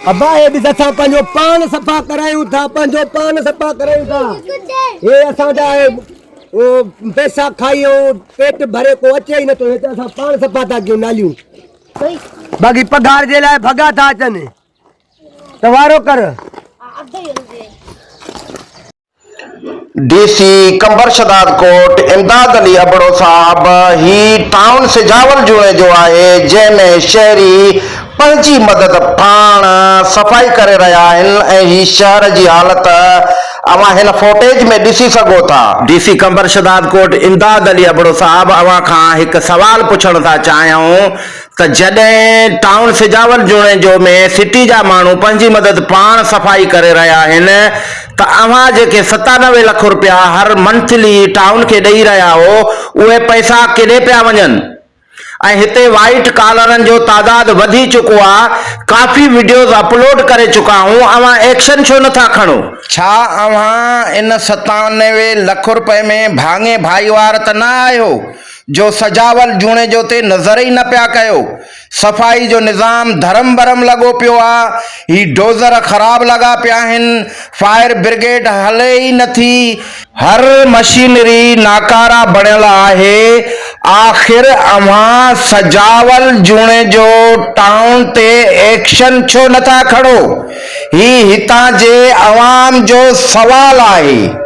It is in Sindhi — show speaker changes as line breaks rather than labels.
اباهي به اسان پنهنجو پان صفا ڪرايون ٿا پنهنجو پان صفا ڪرايون ٿا هي اسان جا پيسا کائي پيٽ ڀري ڪو اچي ئي نٿو هي ته اسان پان صفا ٿا ڪيون ناليون باقي پگهار جي لاء ڀڳا ٿا اچن ته وارو ڪر
D C Qambar Shahdadkot Imdad Ali Abro صاحب ھي ٽائون سجاول جوڻي جو آھي جنھن ۾ شھري پنھنجي مدد پاڻ صفائي ڪري رھيا آھن ۽ ھي شھر جي حالت اوھان ھن فوٽيج ۾ ڏسي سگھو ٿا. D C Qambar Shahdadkot Imdad Ali Abro صاحب اوھان کان ھڪ سوال پڇڻ ٿا چاھيون ته جڏهن ٽائون سجاول جوڻيجو ۾ سٽي جا ماڻهو پنهنجي مدد پاڻ صفائي ڪري رهيا آهن ته اوهان جيڪي ستانوي لک رپيا هر منٿلي ٽائون کي ڏئي رهيا هو اهي پئسا ڪيڏي پيا وڃن ۽ هتي وائيٽ ڪالرن جو تعداد وڌي چڪو آ ڪافي وڊيوز اپلوڊ ڪري چڪا هون اوهان ايڪشن ڇو نٿا کڻو. ڇا اوهان ان ستانوي لک رپئي ۾ ڀاڱي ڀائيوار ته نه آهيو جو سجاول جوڻيجو تي نظر ئي نه پيا ڪيو، صفائي جو نظام ڌرم برم لڳو پيو آ، هي ڊوزر خراب لڳا پيا آهن، فائر برگيڊ هلي ئي نه ٿي، هر مشينري ناڪاره بڻيل آهي، آخر اوهان سجاول جوڻيجو ٽائون تي ايڪشن ڇو نه ٿا کڻو، هي هتان جي عوام جو سوال آهي.